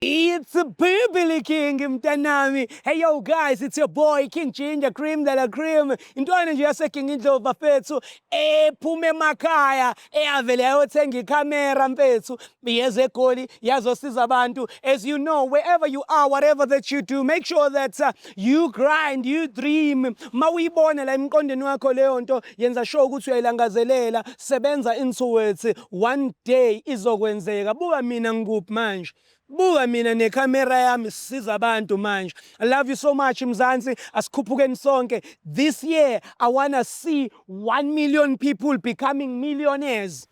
It's Bibili King mntanami. Hey yo guys, it's your boy King Ginger Cream de la Cream. Intwana nje yase King Indlovu bafethu ephuma emakhaya eyavele yayothenga ikhamera mfethu yeze egoli yazosiza abantu. As you know, wherever you are, whatever that you do, make sure that uh, You grind, you dream. Mawuyibona la emqondweni wakho leyo nto, yenza sure ukuthi uyayilangazelela. Sebenza into it. One day izokwenzeka. Buka mina ngikuphi manje. Buka mina necamera yami sisiza abantu manje. I love you so much Mzansi. Asikhuphukeni sonke. This year I wanna see 1 million people becoming millionaires.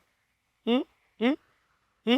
Hmm? Hmm? Hmm?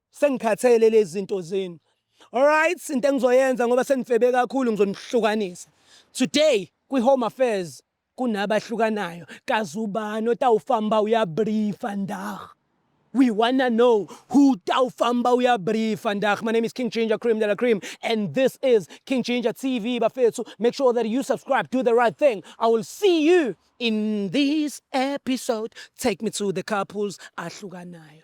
Sengikhathele lezinto zenu. Alright, into engizoyenza ngoba senifebe kakhulu ngizonihlukanisa. Today kwi Home Affairs kunabahlukanayo. Kazi ubani otawufamba uyabriefa ndah. We wanna know who tawufamba uyabriefa ndah. My name is King Ginger Cream de la Cream and this is King Ginger TV bafethu. Make sure that you subscribe, do the right thing. I will see you in this episode. Take me to the couples ahlukanayo.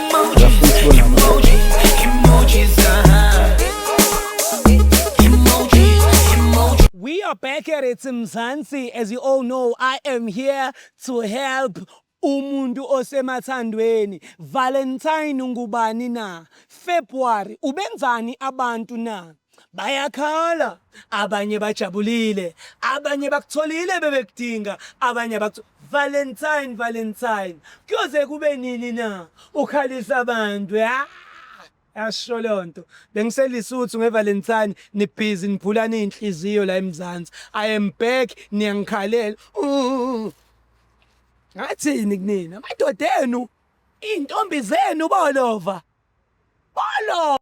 We are back at it, Mzansi. As you all know, I am here to help umuntu osemathandweni valentine ngubani na february ubenzani abantu na bayakhala abanye bajabulile abanye bakutholile bebekudinga abanye abakutholile Valentine Valentine kuyoze kube nini na ukhalisa abantu ya yasho lonto bengiselisuthu ngevalentine nibhizi niphulana inhliziyo la emzansi i am back niyangikhalela ngathini kunina amadoda enu iy'ntombi zenu bolova bolova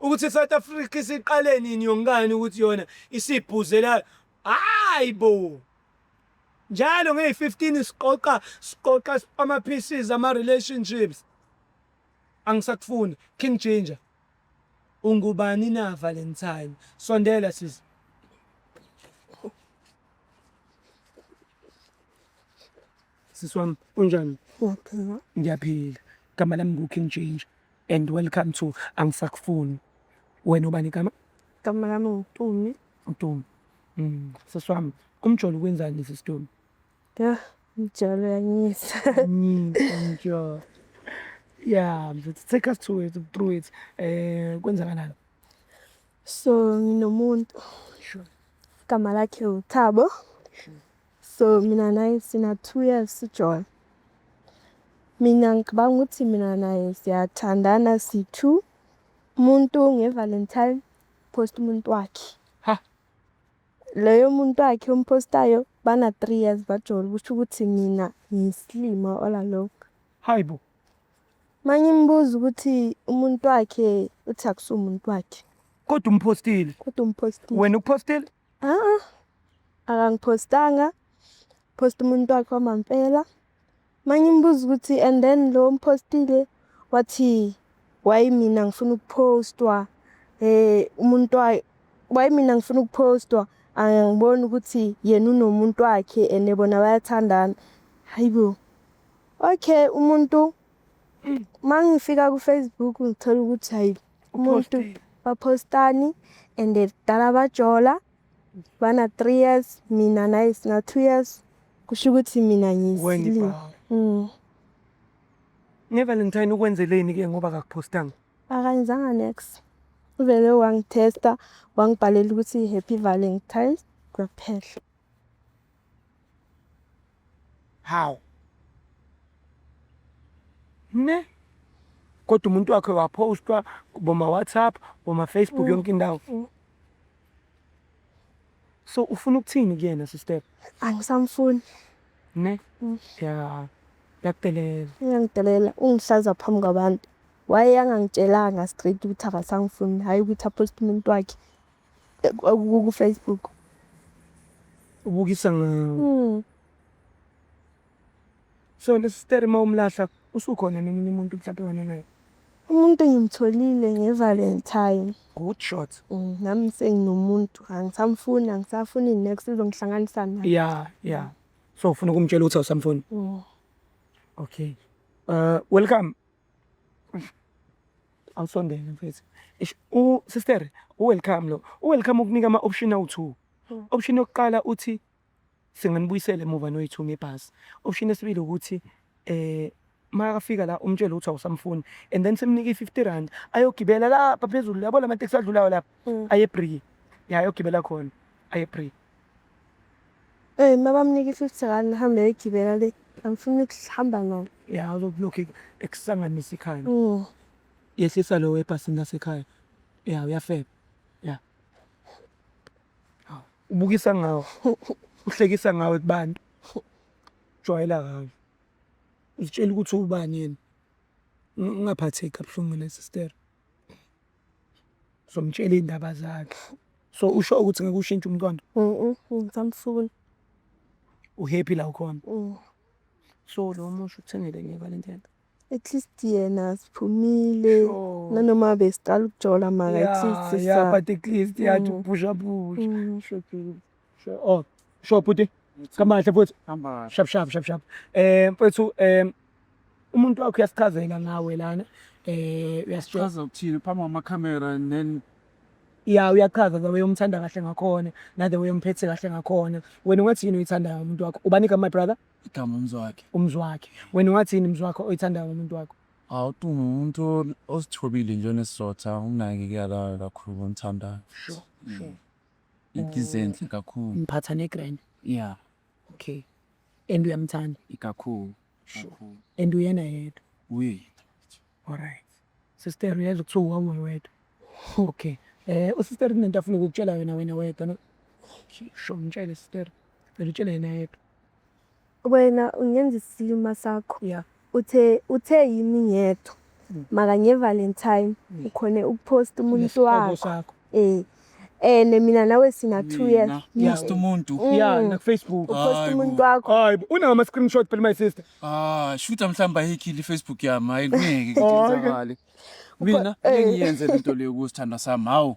Ukuthi South Africa isiqale nini yonkani ukuthi yona isibhuzela hayi bo njalo ngeyi-15 siqoqa siqoqa ama-pieces ama-relationships angisakufuni king ginger ungubani na valentine sondela sisi Sisi wami unjani? Uyaphila. Ngiyaphila. Igama lami nguKing Ginger and welcome to Angisakufuni. Wena ubani igama? Igama lami nguTumi. UTumi. Mm. Sisi wami umjolo ukwenzani sisi Tumi? Yah, umjolo uyanyisa. Nyisa umjolo. Yeah, mfethu take us to it, through it. Eh kwenzakalani? So nginomuntu. Sure. Igama lakhe uThabo. Sure. So mina naye sina two years sijola. Mina ngicabanga ukuthi mina naye siyathandana si-two. Umuntu nge-Valentine post umuntu wakhe. Ha. Leyo muntu wakhe ompostayo bana three years bajola kusho ukuthi mina ngiyisilima all along. Hayi bo. Manye imbuza ukuthi umuntu wakhe uthi akusumuntu wakhe. Kodwa umpostile. Kodwa umpostile. Wena uphostile? Aa, akangiphostanga phosta umuntu wakhe wamampela mangimbuza ukuthi and then lo mphostile wathi why mina ngifuna ukuphostwa um umuntu wayo why mina ngifuna ukuphostwa angiboni ukuthi yena unomuntu wakhe and bona bayathandana hayi bo okay umuntu mangifika kufacebook ngithola ukuthi hayi umuntu baphostani and dala bajola bana 3 years mina naye sina 2 years kusho ukuthi mina ngizile mm. ngevalentine ukwenzeleni ke ngoba kakuphostanga akayenzanga next uvele wangithesta wangibhalela ukuthi happy valentine kwaphela Hawu. Ne? Kodwa umuntu wakhe wapostwa kuboma WhatsApp, boma Facebook mm. yonke indawo. Mm. So ufuna ukuthini kuyena sister? Angisamfuni. Ne? Mm. Yeah. Yakudelela. Yangidelela ungihlaza phambi kwabantu. Waye angangitshelanga straight ukuthi akasangifuni, hayi ukuthi apost umuntu wakhe. ku Facebook ubukisa ngawo hmm. so lesisteri uma umlahla usukhona nomunye umuntu mhlawumbe wena naye umuntu engimtholile ngevalentine good shot hmm, nami senginomuntu angisamfuni angisafuni next izongihlanganisa naye ya ya so ufuna ukumtshela ukuthi awusamfuni hmm. okay uh welcome awusondele mfethu ish u sister u welcome lo u welcome ukunika ama option awu two hmm. option yokuqala uthi singanibuyisela emuva noyithu ngebhasi option yesibili ukuthi eh makafika la umtshele ukuthi awusamfuni and then simnike i-50 rand ayogibela lapha phezulu yabo lama taxi adlulayo lapha hmm. aye bree ya ayogibela khona aye bree Eyi uma bamnika i-fifty rand ahambe ayogibela le angifuni ukuhamba nayo. Ya uzokulokhu ekusanganisa ikhaya. Mm. Yehlisa lo ebhasini lasekhaya. Ya uyafeba. Ya. Hawu, Ubukisa ngawo. Uhlekisa ngawe kubantu. Jwayela ngawe. Uzitshela ukuthi ubani yena. Ungaphatheki kabuhlungu nesister. somtshela iy'ndaba zakhe so usho ukuthi ngeke ushintshe umntwana ngisamfuna uhappy la ukhona mm. so lo musho uthengele ngeba le ndlela at least yena siphumile nanoma besiqala ukujola maka at least ya but at least yathi mm. uphusha phusha mm. Oh, sure bhuti. Kamahle futhi. Kamahle. Shap shap shap shap. Eh mfethu eh umuntu wakho uyasichazela ngawe lana. Eh uyasichaza. Chaza ukuthini phambi kwama camera and then ya uyachaza the way umthanda kahle ngakhona na the way umphethe kahle ngakhona wena ungathini uyithandayo umuntu wakho ubani igama my brother igama umzi wakhe umzi wakhe wena ungathini umzi wakho oyithandayo umuntu wakho awu tu umuntu osithobile nje onesizotha unakekelayo kakhulu ngimthandayo sure sure Izenhle kakhulu. Ngiphatha negrand. Yeah. Okay. And uyamthanda? Ikakhulu. Sure. And uyena yedwa. Uyi. All right. Sister uyezwa kuthiwa uhamwe wedwa. Okay. Eh usister kunento afuna ukukutshela yona wena wedwa no? Sure, mtshele sister. Ngitshele yena yedwa. Wena ungenza isilima sakho. Yeah. Uthe uthe yimi ngedwa. Mm. Maka nge Valentine mm. ukhone ukupost umuntu wakho. Eh. Eh mina nawe sina 2 years. Yes to umuntu. Mm. Yeah, na Facebook. Upost umuntu wakho. Hayi, una ama screenshot phela my sister. Ah, shutha mhlamba hekile Facebook yami. Hayi ngeke ngizamali. Mina eh. engiyenze lento leyo kusithandwa sami. Hawu.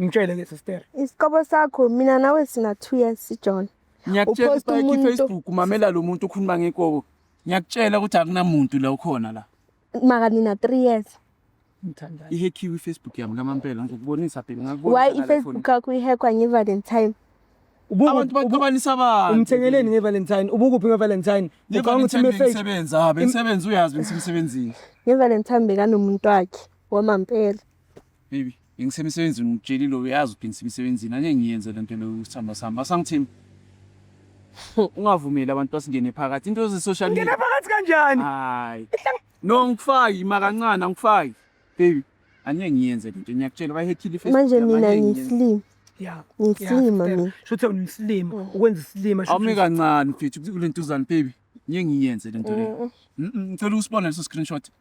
ngitshele ke sister isiqobo sakho mina nawe sina 2 years sijohn ngiyakutshela Upost ukuthi umuntu- kifacebook umamela lo muntu ukhuluma ngekobo ngiyakutshela ukuthi akunamuntu la ukhona la maka nina 3 years ngithandayo ihekhiwe ifacebook yami kamampela ngizokubonisa bheki why ifacebook yakho ihekwa ngevalentine abantu baxabanisa abantu umthengeleni ngevalentine ubukuphi ngevalentine ucabanga ukuthi imefake bengisebenza ha bengisebenza uyazi bengisemsebenzini ngevalentine bekanomuntu wakhe wamampela Baby, bengisemsebenzini ngikutshelile uyazi ukuthi ngisemsebenzini angeke ngiyenze le nto leyo isithandwa sami. Asangithini? Ungavumeli abantu basingene phakathi. Into ze-social media. Ngena phakathi kanjani? Hayi. No ngikufaki makancane angikufaki. Baby, angeke ngiyenze le nto. Ngiyakutshela bayihethile ifesi. Manje mina ngiyisilima. Yeah. Ngiyisilima yeah, mina. Shothi ungisilima, mm. ukwenza isilima. Awumi kancane mfethu kule ntuzane baby. Ngeke ngiyenze le nto leyo. Mm, mm, ngicela usibone leso screenshot.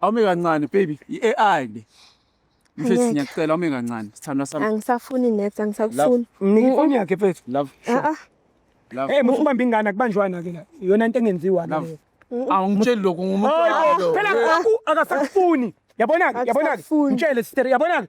Awume kancane baby, i-AI le. Mfethu Angeke. ngiyacela awume kancane. Sithandwa sami. angisafuni net angisakufuni Mnike ifoni yakhe mfethu. Love. Ah, ah. Love. Hey, musa ubamba ingane akubanjwana ke la. Iyona into engenziwa Love. leyo. Awungitsheli lokho ngumuntu. Hayi bo, phela lokhu akasakufuni. Yabona-ke, yabona-ke. Akusafuni. Mtshele sister, yabona-ke.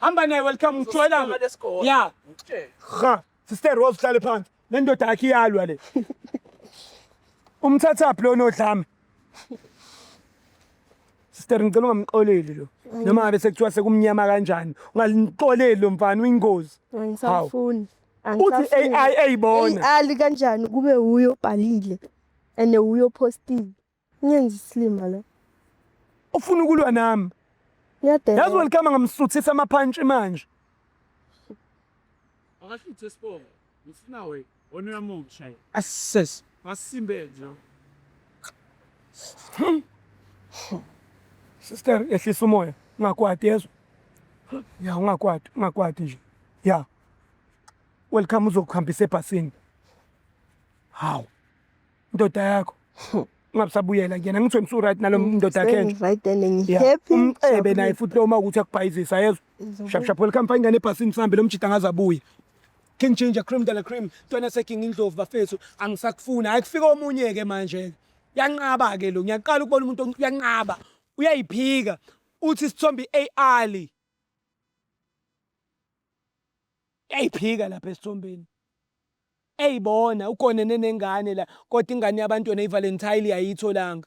hamba naye welcome ngitshwela ya ha sister Rose hlale phansi le ndoda yakhe iyalwa le umthathaphi lona odlame sister ngicela ungamxoleli lo noma ngabe sekuthiwa sekumnyama kanjani ungalixoleli lo mfana uyingozi angisafuni uthi ai ayibona ali kanjani kube huyo bhalile and huyo postile Ngenza isilima la. Ufuna ukulwa nami. Ngiyadela. Yazi welcome ngamsuthisa amaphantshi manje. Akashuthe isibongo. Ngifuna we one yamuntu shayi. Ases. Masimbe nje. Sister ehlisa umoya ungakwati yezwa. Ya ungakwati ungakwati nje. Ya. Welcome uzokuhambisa ebhasini. Hawu. ndoda yakho ungabusabuyela kuyena ngithiwe ngisuryt nalo mm, ndoda yakhenje umcebe naye futhi loma ukuthi akubhayizisa yezwa shapshaphu welcome fa ingane ebhasini sihambe lo mjida ngaze abuye king ginger cream dala cream ntwana seking indlovu bafethu angisakufuni hayi kufika omunye-ke manje-ke yanqaba-ke lo ngiyaqala ukubona umuntu uyanqaba uyayiphika uthi isithombe i-ali yayiphika lapha esithombeni Ey bona ugonene nengane la kodwa ingane yabantu yona ivalentile ayiyitholanga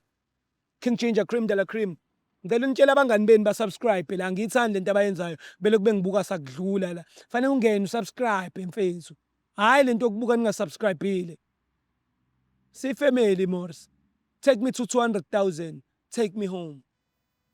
King Ginger cream de la cream ngicela unitshele abangani benu ba subscribe la angiyithandi lento abayenzayo belokhu bengibuka sakudlula la fanele ungene u subscribe mfethu hayi lento yokubuka ninga subscribile si family mors take me to 200,000 take me home.